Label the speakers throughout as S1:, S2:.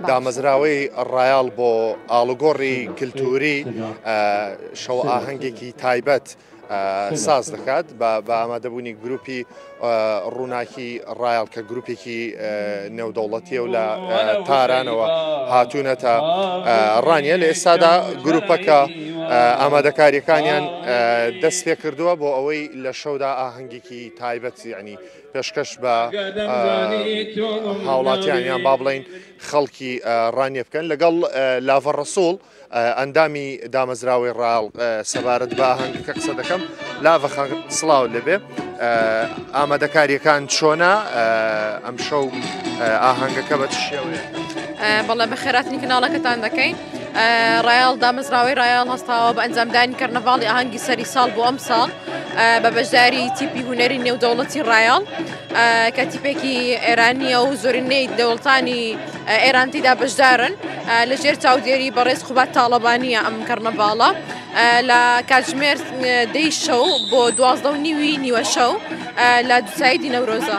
S1: دامەزراوەی ڕایاڵ بۆ ئاڵوگۆڕی کللتوری شەو ئاهەنگێکی تایبەت ساز دەکات بە ئامادەبوونی گروپی ڕووناکی ڕایال کە گروپێکی نێودەوڵەتیە و لە تارانەوە هاتوونەتە ڕانیە لە ئێستادا گروپەکە ئامادەکاریەکانیان دەست پێ کردووە بۆ ئەوەی لە شەودا ئاهەنگێکی تایبەت ینی پێشکەش بە هاوڵاتیان یان با بڵین خەڵکی ڕانیە بکەن لەگەڵ لاڤە ڕسوڵ ئەندامی دامەزراوەی ڕاڵ سەبارەت بە هەنگەکە قسە دەکەم لاڤە سلااو لەبێ ئامادەکاریەکان چۆنا ئەم شەو ئاهەنگەکە بە شێوێ بەڵێ بە
S2: خێراتنی کەناڵەکەتان دەکەین ڕایەڵ دامەزراوەی ڕایەڵ هەستاوە بە ئەنجامدانی کەرنەڤاڵی ئاهەنگی سەری ساڵ بۆ ئەم ساڵ بە بەشداری تیپی هوەری نێودەوڵەتی ڕایەڵ کە تیپێکی ئێرانیە و زۆرینەی دەوڵتانی ئێرانتیدا بەشدارن لە ژێر چاودێری بەڕێز خوبات تاڵەبانیە ئەم کەرنەڤاڵە لە کاتژمێر دەی شەو بۆ دوازدە و نیوی نیوە شەو لە دووسایی دینەورۆزە.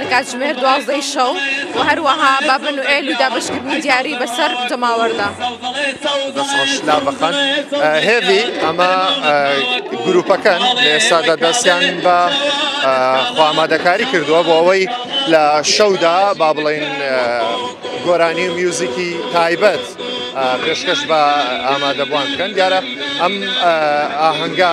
S2: لە کاتژمێر دوازدەی شەو و هەروەها بە بنوئێل و دابشکردنی دیاری بەسەر جەماوەردا دەسڕۆشلا
S1: بەخەن هێوی ئەمە گروپەکەن لێسادا دەستیان بە خۆمادەکاری کردووە بۆ ئەوەی لە شەودا با بڵین گۆرانی و میوزیکی تایبەت پێشکەش بە ئامادەبووان بکەن دیارە ئەم ئاهەنگا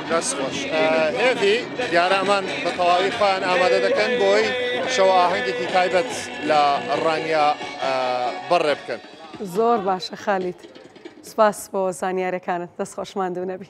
S1: دەست خۆش هێڤی دیارامان بە تەواوی خۆیان ئامادە دەکەن بۆی شەوە ئاهەنگێکی تایبەت لە ڕانیا بەڕێ بکەن
S3: زۆر باشە خالیت سپاس
S1: بۆ
S3: زانیارەکانت دەست خۆشمان دوو نەبی